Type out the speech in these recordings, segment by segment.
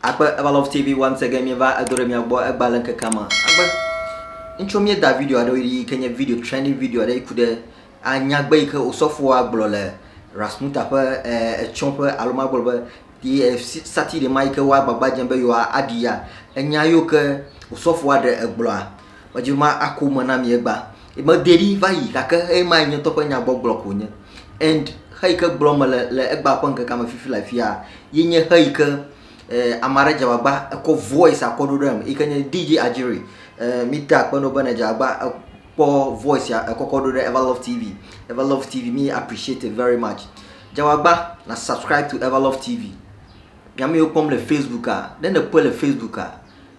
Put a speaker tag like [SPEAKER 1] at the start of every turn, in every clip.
[SPEAKER 1] Akpe Evalove TV once again mieva edo ɖe mia gbɔ egba le ŋkekea me. Akpe. Ŋutsu mie da video aɖe yi ke nye video trending video aɖe yi ku ɖe anyagbe yi ke osɔfoa gblɔ le Rasmuta ƒe etsɔ ƒe alo ma gblɔ be yi sati ɖe ma yi ke woa gbagba dze be yewoa aɖi ya. Enya yi ke osɔfoa ɖe egblɔa Medze ma ako me na mi egbea. Mede ɖi va yi gake ema ye nye ŋutɔ ƒe nyagbɔgblɔ ko nye. And xeyi ke gblɔm mele le egbea ƒe ŋkekea me fifi le afia ye nye xeyi ke eh, ame aɖe dze agbagba ekɔ voice akɔ ɖo ɖe em yi ke nye DJ Adjiri. Eh, mi te akpe no be ne dze agbagba ekpɔ voice ya ekɔkɔ ɖo ɖe Everlove TV. Everlove TV mi appreciate it very much. Dze agbagba na subscribe to Everlove TV. Nyame yiwo kpɔm le Facebook a, ne nekpɔe le Facebook a,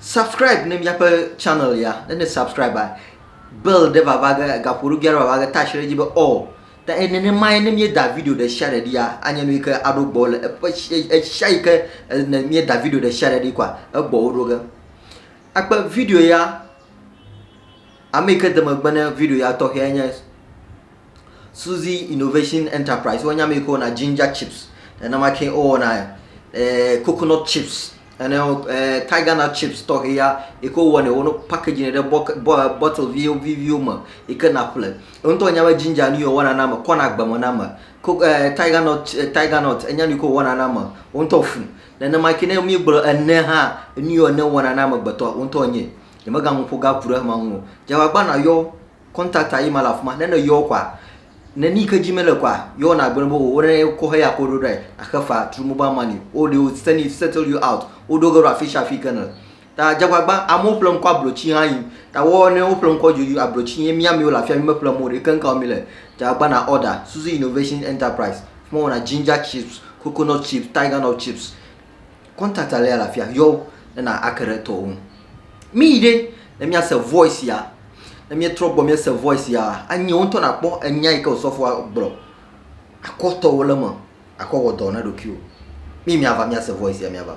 [SPEAKER 1] Subscribe ne míaƒe channel ya. Ne ne subscribe a, bell ɖe vava ge, gaƒoɖogui aɖe vava ge, touch ɖe edzi be all. Ta eye nenemae ne míeda video ɖe sia ɖe ɖia, anye nu yi ke aɖo gbɔ le eƒe ɣesia yi ke ne míeda video ɖe sia ɖe ɖi kɔa, egbɔwo ɖo ge. Akpe video ya, ame yi ke de megbe ne video ya tɔxɛe nye Suzy Innovation Enterprise, wo nya mi ko na ginger chips, ena ma ke o na eh, coconut chips, ene eh, tiger nut chips tɔxɛ ya, eko wɔ ne wo no package ne ɖe bɔ bɔ eh, bottle vi vi viwo me, eke na ƒle. Ŋutɔ nya be ginger ni wɔna na me, kɔna gbeme na me. Ko eh, tiger nut eh, tiger nut enya ni ko wɔna na me, ŋutɔ fu. Nene ma ke ne mi gblɔ ene ha, ni yɔ ne wɔna na me gbetɔ, ŋutɔ nye. Yemega ŋu ƒo ga ku ɖe ma ŋu. Jawagba na yɔ contact a yima le afima ne ne yɔwo kɔa ne ni ke dzi me le kɔa yɔwo na gbe bo wo ne ko he ya ko ɖo ɖe axe fa through mobile money o de o send it settle you out o ɖo ge ɖo afi sia afi ke ne ta jagbagba amewo ƒle ŋkɔ ablotsi hã yi ta wɔ ne wo ƒle ŋkɔ dzodzo ablotsi ye mia miwo le afia mi me ƒle mo ɖe ke ŋka wo mi le jagbagba na order suzu innovation enterprise fima wona ginger chips coconut chips tiger nut chips contact ale le afia yɔ wo ne na ake ɖe etɔwo ŋu mi yi ɖe ne miase voice ya ne mietrɔ gbɔ miese voice ya anyi wo ŋutɔ nakpɔ enya yi ke osɔfoa gblɔ akɔ tɔwo le me akɔ wɔ dɔ na ɖokuiwo mi miava miase voice ya miava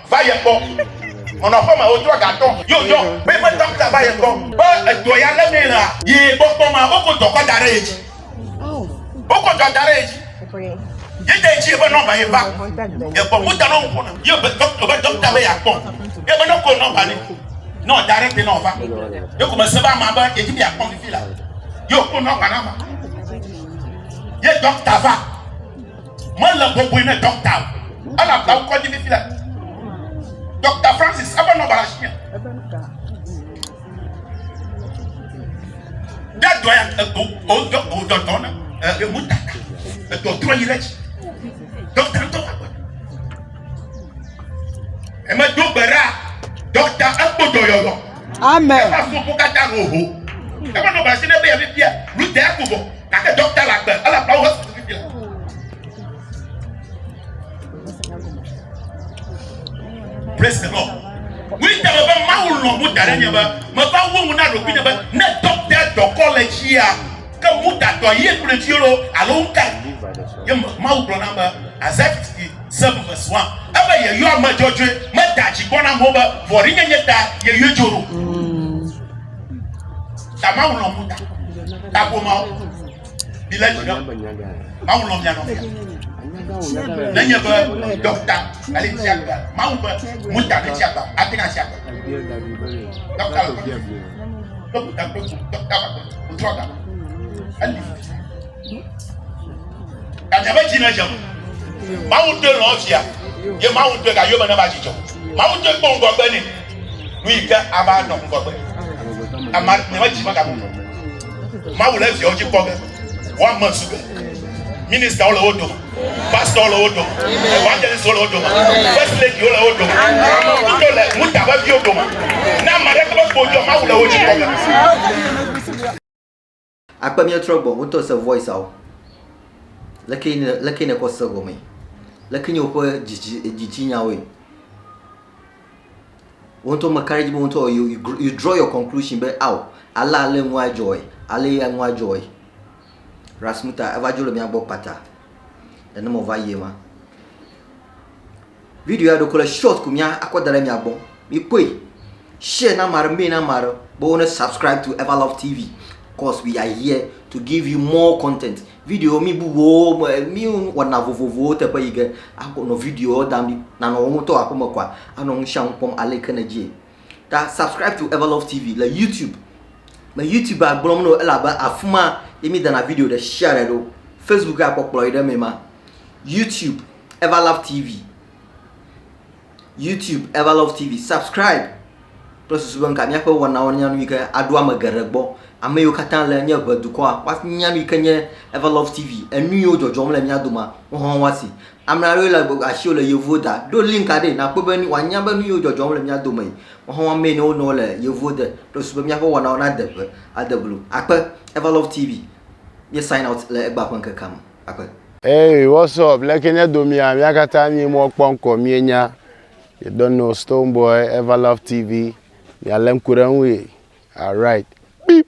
[SPEAKER 2] va ye gbɔ. Nɔnɔ ƒe me wotrɔ ga tɔ yo yɔ be eƒe dɔkta va ye gbɔ be edɔ ya le mee la ye gbɔ kpɔ ma wokɔ dɔ kɔ da ɖe ye dzi. Wokɔ dɔ da ɖe ye dzi. Ye de dzi ebe nɔmba ye va ye gbɔ wo da nɔ ŋkɔ na ye be dɔkta be dɔkta be ya kpɔ ye be nɔkɔ nɔmba ne nɔ da ɖe te nɔ va ye ko me se ba ma be ye dzi be ya kpɔ fifi la yo ko nɔmba na ma ye dɔkta va Mele bɔbɔe ne dɔkta o, elabena wokɔdzi fifi le Dɔkta Francis eƒe nɔba le asinye. Ɖe dɔ ya wodɔdɔ ne emu tata edɔ trɔ yi ɖe dzi. Dɔkta ŋutɔ va gbe. Emedo gbe ɖa dɔkta ekpo dɔyɔyɔ. Amen. Eƒe afɔ ƒo katã ho ho. Eƒe nɔ basi ne be yefifia. Lu de aku vɔ. Gake dɔkta la gbe. Ele aƒlawo he susu fifia. Praise the Lord. Winter me be mawu lɔ mu da ɖe nye be me va wo ŋu na ɖokui nye be ne dɔkta dɔkɔ le tsia ke mu datɔ ye kple tsi lo alo ŋka. Ye mawu gblɔ na be azati Se veve sua ebe yeyɔ ame dzɔdzɔe, meda dzi gbɔ na amewo be vɔ̃ɖinyenye ta yeyɔe dzo ɖo. Ta Mawu lɔ̃ ŋuta, ta ƒomeawo, milé dzi ɖe Mawu lɔ̃ mia nɔvia. nenye be dɔkta ele tsi agbe mawu be muta ne tsi agbe ate ŋa tsi agbe dɔkta le dɔkta dɔkta wòtrɔ ga eli Gake ƒe dzi nedze o. Mawu doe lɔ̃ via, ye Mawu doe gayome ne va dzidzɔ. Mawu doe kpɔ ŋgɔgbe nɛ, nu yi ke ava nɔ ŋgɔgbe. Ame aɖe medzi mega bu me. Mawu le viawo dzi kpɔ ge. Woame zu ge. Ministawo le wo dome. Pastor le wo dome. Evangelist le wo dome. First lady le wo dome. Amewo do le muta ƒe viwo dome. Na ame aɖe kple kpodzɔ Mawu le wo dzi kpɔ ge.
[SPEAKER 1] Akpe míetrɔ gbɔ wotɔ se voice awo. Leke ne leke ne kɔ se gɔme. Leke nye woƒe dzidzi dzidzi nyawoe. Wontɔ me kare dzi be wontɔ you, you draw your conclusion be ao ale ale nua dzɔe ale ya nua dzɔe. Rasmuta eva dzo le mía gbɔ kpata. Nenema va yie ma. Video ya ɖeko le short ku mía akɔ da ɖe mia gbɔ. Mi kpɔe. Share na mare mee na mare be wo ne subscribe to Ever Love TV. Cause we are here to give you more content. Video mi bubuwo me mi wɔna vovovowo teƒe yi ge akɔ nɔ video da mi nanɔ wo ŋutɔ aƒeme kɔa anɔ ŋusianu kpɔm ale ke ne dzie. ta subscribe to everlove tv le youtube le youtube agblɔm no elabe afi ma ye mi dana video ɖe share ɖe ɖo facebook akpɔkplɔ yi ɖe me ma youtube everlove tv youtube everlove tv subscribe kple susu be nka míaƒe wɔnawo nya nu yi ke aɖo ame geɖe gbɔ ame yiwo katã le nye ʋe dukɔa woanya nu yi ke nye everlove tv enu yiwo dzɔdzɔm le mía doma wohã woasi Ame aɖewo le gbɔgbɔ asi wole yevuwo da. Ɖo link aɖee nàkpɔ be nu wòanya be nu yiwo dzɔdzɔm le mía dome yi. Woaxɔ̃ mee ne wonɔ wo le yevuwo de. Ɖo susu be míaƒe wɔnawo nade ŋe ade blu. Akpe. Everlove TV. Mí sign out le egbea ƒe ŋkekea me. Akpe. Hey what's
[SPEAKER 3] up leke nye domia mia katã nyi mɔ kpɔ ŋkɔ mie nya you don't know stone boy ever love tv mia le ŋku ɖe ŋui alright beep.